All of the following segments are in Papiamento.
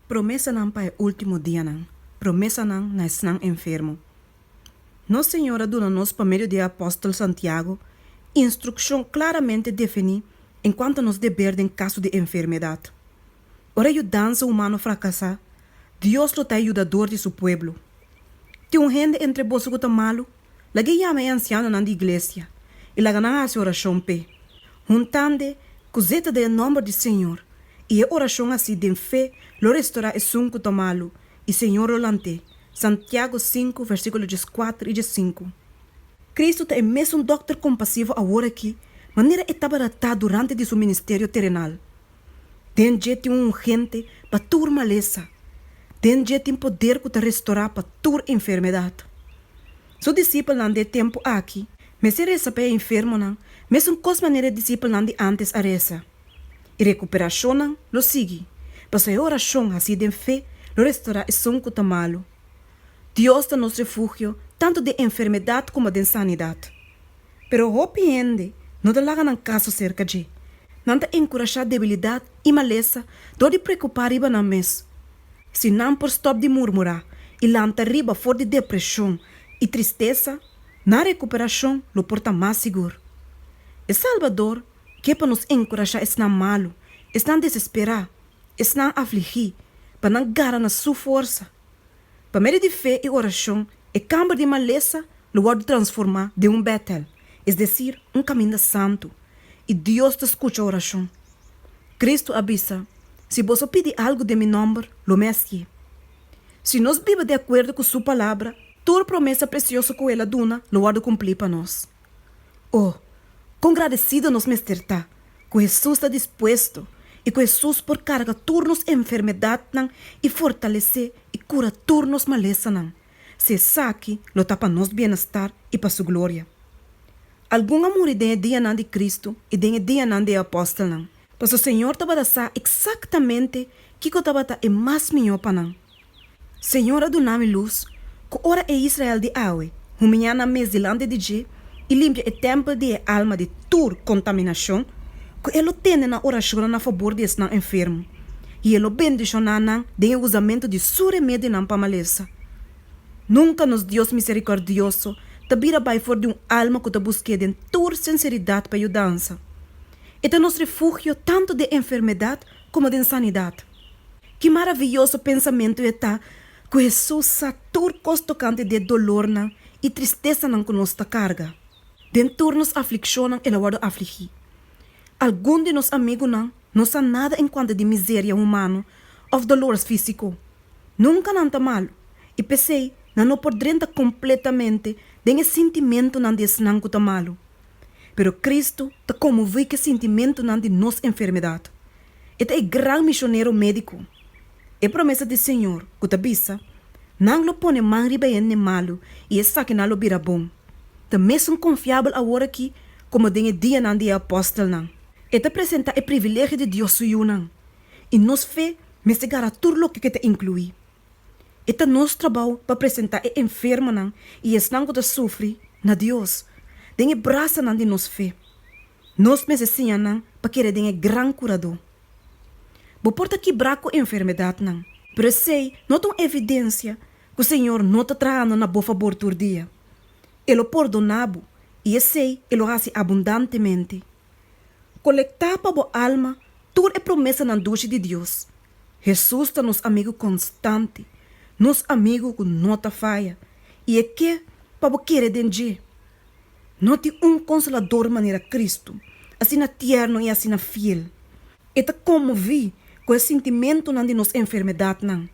Promesanan pa e último dianan. Promesanan na esnan enfermo. Nos Señor a duna nos pa medio di e apòstel Santiago instrukshon klaramente definí en kuantu nos deber den kaso di enfermedat. Ora e yudansa humano frakasá, Dios lo ta e yudador di su pueblo. Tin un hende entre boso ku ta malu? Lag'é yama e ansianonan di iglesia i laga nan hasi orashon p'e, huntande ku zeta den e nòmber di Señor, i e orashon así den fe lo restorá esun ku ta malu, i Señor lo lant'é. Santiago sinku, versíkulo djes kuater i djes sinku. Kristu ta e mesun Dòkter kompasivo aworakí manera e tabata ta durante di su ministerio terenal. Den dje tin un ungente pa tur malesa. Den dje tin poder cu ta restorá pa tur enfermedad. Su disipelnan di e tempu aki mester reza pa e enfermonan mescos manera e disipelnan di antes a reza. E recuperacionnan lo sigui, pasobra e oracion hací den fe lo restorá esun cu ta malu. Dios ta nos refugio tantu den enfermedad coma den sanidad. Pero hopi hende no ta laga nan kaso serka dje. Nan ta enkurashá debilidat i malesa dor di preokupá riba nan mes. Si nan por stòp di murmurá i lanta riba for di depreshon i tristesa, nan rekuperashon lo por ta mas sigur. E Salbador ke pa nos enkurashá esnan malu, esnan desesperá, esnan afligí, pa nan gara na Su forsa. Pa medio di fe i oracion, e camber di malesa lo wordo transforma den un Betel, es decir, un caminda santo, i Dios ta scucha oracion. Cristo a bisa, Si bos a pidi algo den mi nomber, lo mi a hacié. Si nos biba di acuerdo cu Su Palabra, tur promesa precioso cu El a duna lo wordo cumpli pa nos. O, kon gradesido nos mester ta ku Hesus ta dispuesto i ku Hesus por karga tur nos enfermedatnan i fortalesé i kura tur nos malesanan, si esaki lo ta pa nos bienestar i pa su gloria! Algun a muri den e dianan di Cristo i den e dianan di e apòstelnan. Pasobra Señor tabata sa eksaktamente kiko tabata e mas mihó pa nan. Señor a duna mi lus, ku ora e Israel di awe humiña nan mes dilanti di dje i limpia e tèmpel di e alma di tur kontaminashon, ku e lo tende nan orashonnan na fabor di esnan enfermo, i e lo bendishoná nan den e usamentu di Su remedinan pa malesa. Nunka nos Dios miserikòrdioso ta bira bai for di un alma ku ta busk'É den tur sinseridat pa yudansa. E ta nos refugio tantu den enfermedat komo den sanidat. Ki maraviyoso pensamentu e ta ku Hesus sa tur kos tokante di e dolornan i tristesanan ku nos ta karga! Den tur nos aflikshonnan el a wòrdu afligí. Algun di nos amigunan no sa nada en kuantu di miseria humano òf dolores físiko. Nunka nan ta malu, i p'esei nan no por drenta kompletamente den e sintimentunan di esnan ku ta malu. Pero Kristu ta konmoví ku e sintimentunan di nos enfermedat. E ta e gran misionero medico. E promesa di Señor cu ta bisa, Nan lo pone man riba e hende malu y esakinan lo bira bon, ta mesun confiabel awor aki como den e dianan di e apostelnan. E ta presenta e privilegio di Dios su yunan y nos fe mester gara tur loke cu e ta inclui. E ta nos trabao pa presenta e enfermonan y esnan cu ta sufri na Dios den e brasanan di nos fe. Nos mester siña nan pa kere den e Gran Kuradó. Bo por ta kibrá ku enfermedatnan, pero esei no ta un evidensia ku Señor no ta trahando na bo fabor tur dia. E lo pordoná bo, i esei e lo hasi abundantemente. Kolektá pa bo alma tur e promesanan dushi di Dios. Hesus ta nos amigu konstante, nos amigu ku no ta faya, i e ke pa bo kere den dje. No tin un Konsolador manera Kristu, asina tierno i asina fiel. E ta konmoví ku e sintimentunan di nos enfermedatnan.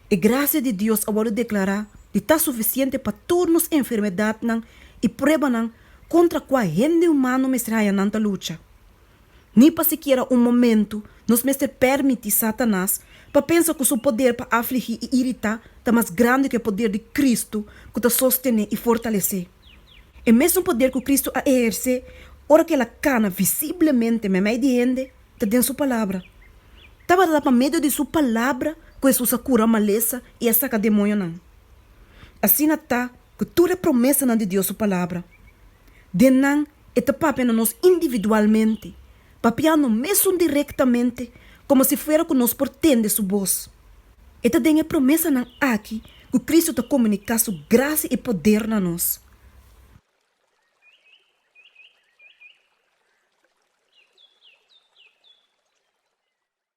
E grasia di Dios a wòrdu deklará di ta sufisiente pa tur nos enfermedatnan i pruebanan kontra kua hende humano mester haya nan ta lucha. Ni pa sikiera un momentu nos mester pèrmiti Satanas pa pensa ku su poder pa afligí i iritá ta mas grandi ku e poder di Kristu ku ta sostené i fortalesé. E mesun poder ku Kristu a ehersé ora ku el a kana visiblemente meimei di hende ta den su Palabra. Tabata ta pa medio di su Palabra ku Hesus a kura malesa i a saka demoñonan. Asina ta ku tur e promesanan di Dios su Palabra, den nan E ta papia na nos individualmente, papianno mesun directamente como si fuera cu nos por tende su bos. E ta den e promesanan aki cu Cristo ta comunica su gracia y poder na nos.